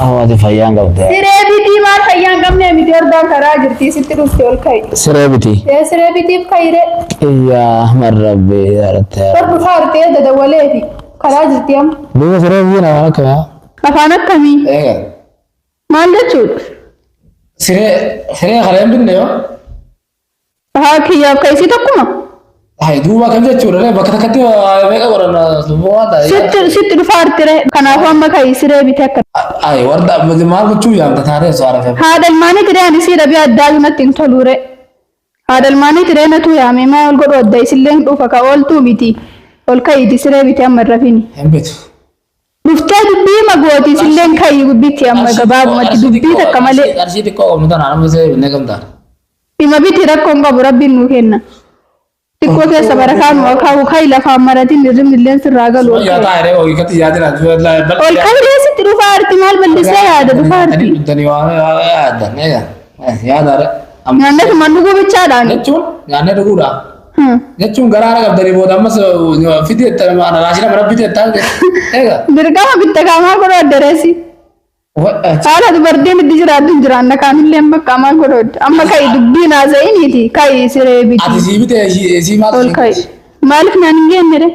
Ahmadi fayyaan qabdee. Siree bitii maal fayyaan qabnee miti ordaan karaa jirtii sitti dhufte ol ka'i. Siree biti. Ee siree bitiif ka'ire Iyyaa Ahmad Rabbi yarattee. bar dhufaa artee dadawalee fi karaa jirtii amma. Duuba siree biyya namaa akka maa. Afaan akkamii? Eegal. Maal jechuudha? Siree siree kaleen binne yoo. Haa kiyyaaf ka isii tokkuma. Hai duuba kan jechuudha ree bakka takkatti waa meeqa godhanna subboo waan ta'a. Sitti sitti dhufaa artire. Kanaafuu amma ka isiree bitee akka. Hai warda maal gochuu yaamta taatee osoo arafee. Haadha ilmaanii tiree ani sii dhabee addaayu natti hin toluure. Haadha ilmaanii tiree natuu yaamee maa ol godhu adda isillee hin dhuufa ka ooltuu miti. Ol ka'iiti siree bitee amma hin rafini. Hin bitu. Dhuftee dubbii hima gooti isilleen kayi gubbitti amma gabaabumatti dubbii takka malee. Qarshii xiqqoo qabnu tana amma isee binnee gamtaan. Hima biti rakkoon qabu rabbiin nuu kenna. Xiqqoo keessa barakaa nuu akaa'u kayi lafaan maratiin hirribni illeen sirraa galu. Yaa taa hiree hoo hiikatti yaadina. Ol kayi reessitti dhufaa arti maal ballisee yaada dhufaa arti. Dani waa yaadda. Yaada. Nyaannee tumaan dhuguu bichaadhaan. Jechuun nyaannee dhuguudhaa. Jechuun garaa haala qabdanii booda ammas fidii jettan maana raashina mana bitee jettan eega. Dirqama bitta qaamaa godhoo addereessi. Haala dubartiin itti jiraattu hin jiraanna kaanillee amma qaamaa godhoo adda. Amma ka'i dubbiin haasa'iniiti ka'i siree biti. Ati sii bitee sii maal Ol ka'i. Maaliif naan hin geennire?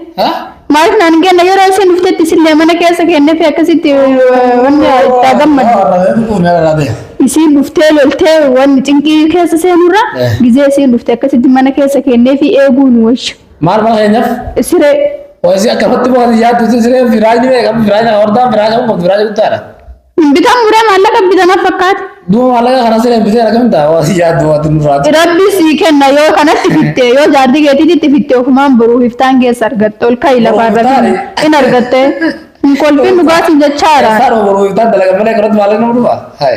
Maaliif naan hin kenne yeroo isheen dhuftetti isillee mana keessa kenneefii akkasitti eh, wanni itti haa gammadu. Isiin dhuftee loltee wanni cinqii keessa seenurra Eh. gizee isiin dhufte akkasitti mana keessa kenneefii eeguu nu wayya. Maal maal keenyaaf? Siree Hoji akkanatti waan yaaddu siree firaayini beekamu firaayini hordaan firaayini qabu firaayini guddaadha. Bitan muree maallaqa bitan as fakkaate. Duuba maallaqa kana siree bitee argamu ta'a waan yaaddu waan nurraa ta'e. Rabbi sii kenna yoo kanatti fitte yoo jaartii keetiitti fitte ofumaan boruu hiftaan keessa argatte ol ka'i lafaa irra Boruu hiftaan? hin argatte hin kolfin dhugaatiin jechaara. Isaan ooluu iftaan dalaga malee kanatti maallaqa nama dhufa. Hai.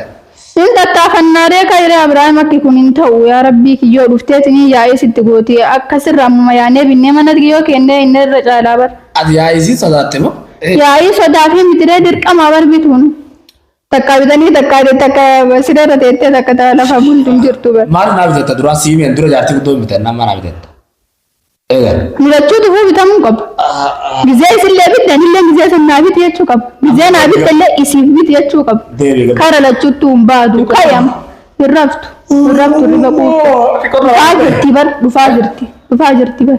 Hin tattaafannaaree ka'iree Abiraam akki kun hin ta'u yaa rabbii kiyyoo dhufteetiin yaa'ee sitti gootee akka sirra ammuma yaanee binnee manatti kiyyoo kennee inni irra caalaa bar. Ati yaa'ii isiin sodaatte moo? Yaa'ii sodaa fi mitiree dirqamaa barbituun. Takka bitanii takka takka siree irra teettee takka ta- lafa bultu hin jirtu bar. Maal naa bitatta duraa sii meen dura jaartii guddoo hin bitanna amma naa bitatta. Eega. Mulachuu dhufuu bitamuu qaba. Gizee isillee bitte anillee gizee san naa biti jechuu qaba. Gizee naa bitte illee isiif biti jechuu qaba. Deebii gabaa. Kara lachuuttuu hin baadu qayam hin raftu hin raftu riba quuqqe. Dhufaa jirti bar dhufaa jirti dhufaa jirti bar.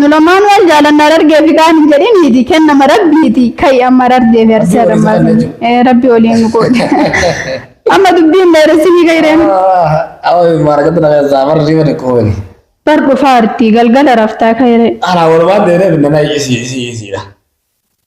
Nu lamaan wal jaalanna Harargee fi kaan hin jedhiniiti kennama rabbiiti ka'i amma Harargee fi Arsii Rabbii waliin Adammaa jaalachuu. Eh, rabbi waliin nu qoode amma dubbii hin dheeressinii ka'ireemi Awa maaragatti nama keessaa bara riiba dhiqooni. bar dhufaarti galgala raftaa ka'ire Ana walumaan deemee finna na isi isi isiidha.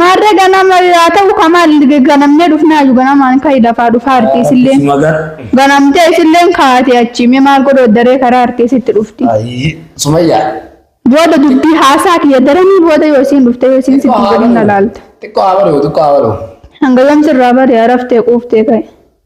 Maarree ganama haa ta'u ka maal ganamnee dhufnaayu ganamaan ka'i lafaa dhufaa arti isilleen. Akkuma gar. Ganamtee isilleen kaate achi mee maal godhu daree karaa arti isitti dhufti. Ayii. Sumayyaa. Booda dubbii haasaa kiyya daranii booda yoo isiin dhufte yoo isiin sitti godhin na laalta. Xiqqoo haa baruu xiqqoo haa baruu. Hanga yoom sirraa bari'a raftee quuftee ka'i.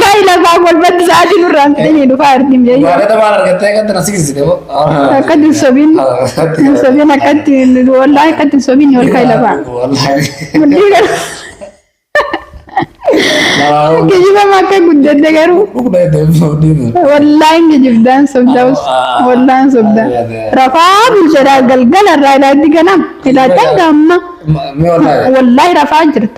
Kai lafaa golbatti sa'aatii nurraan fidanii dhufaa argin jayyu. Akka hin sobin hin sobin akkatti wallaa akkatti hin sobin ol kai lafaa. Mudhii garuu kijibama akka guddadde garuu wallaa hin kijibdaan sobdaa us wallaa hin sobdaa. Rafaa bulchadhaa galgala irraa ilaatti ganam ilaattan gamma wallaahi rafaa jirta.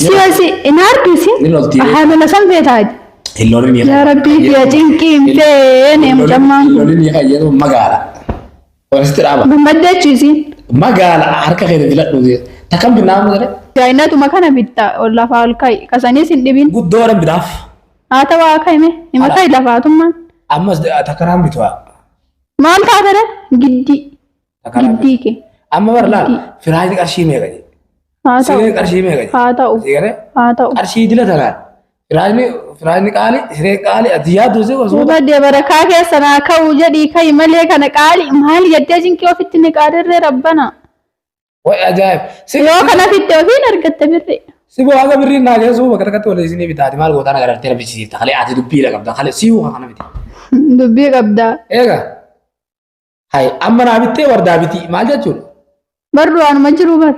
Siyasi hin harkisi. Ni lolti. Haamila san feetaa. Hin lolin ni Yaa Rabbii kiyya cinqii hin feene mucammaan Hin kun. lolin ni fayyadu magaala. Warasitti dhaaba. Gammaddee achiisi. Magaala harka keetti filadhu. Takkan binnaa mudare. Daa'inatuma kana bitta ol lafaa ol ka'i. Kasaniis hin dhibin. Guddoo dhan bitaaf. Haa ta'u haa ka'i mee. Hima ka'i lafaatummaan. Ammas takkanaan bitu'a. Maal taatadha? Giddii. Takka lama. Giddii kee. Amma bar laal firaayiti qarshii meeqa jedhe. Haa ta'u. Sireen qarshii meeqa jedhe. Haa ta'u. Siree Haa ta'u. qarshii dila tanaan. Firaayini firaayini qaali siree qaali ati yaaddu si osoo. Duuba dabarakaa keessa naa ka'u jedhii ka'i malee kana qaali maal yaddee jinkii ofitti ni qaadirree rabbana. Wayi ajaa'ib. Si Yoo kana fitte ofiin argatta birri. si boo haga birriin naa geessuu bakka takkatti wal isinii bitaati maal gootaan agartee na bichisiifta kalee ati dubbii dha qabda kalee siyuu kana miti. Dubbii qabdaa. Eega Hay amma naa bittee wardaa bitii maal jechuudha? Barru waanuma jiru bar.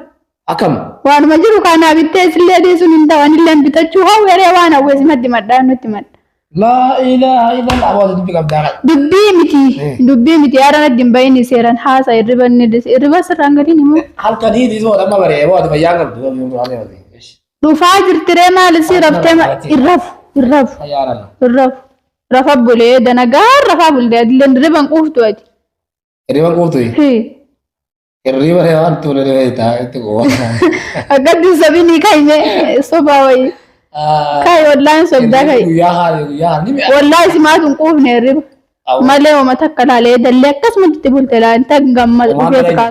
Akkam? Waanuma jiru kaanaa bittee isillee dhiisuun hin ta'u anillee bitachuu hawweree waan hawwees maddi maddaa nutti madda. Laa ilaaha illallah waan dubbi qabdaa qaba. Dubbii miti Eh. dubbii miti yaada natti hin bahin seeran haasa irriba inni dhis irriba sirraan gadiin immoo Halkan hiiti soo dhamma baree waan fayyaa qabdu waan yoo waan yoo. dhufaa jirtiree maal isii raftee ma- irrafu irrafu Fayyaa dhala. irrafu. Rafa bulee danagaan rafaa bulte adilleen riban quuftu ati. Hirriba quuftuyi. Hii. Hirriba reebaa itti bulee reebaa itti haa itti quufa. Akkatti sabini kaime sobaa wayi. Kai wallahi sobdaa kai. Guyyaa haali guyyaa haali mi'a. Wallahi simaatu hin quufne riba. Malee homa takka laalee dallee akkasumatti itti bulte laalte gammada Homaa dhufeeti bira- kaa.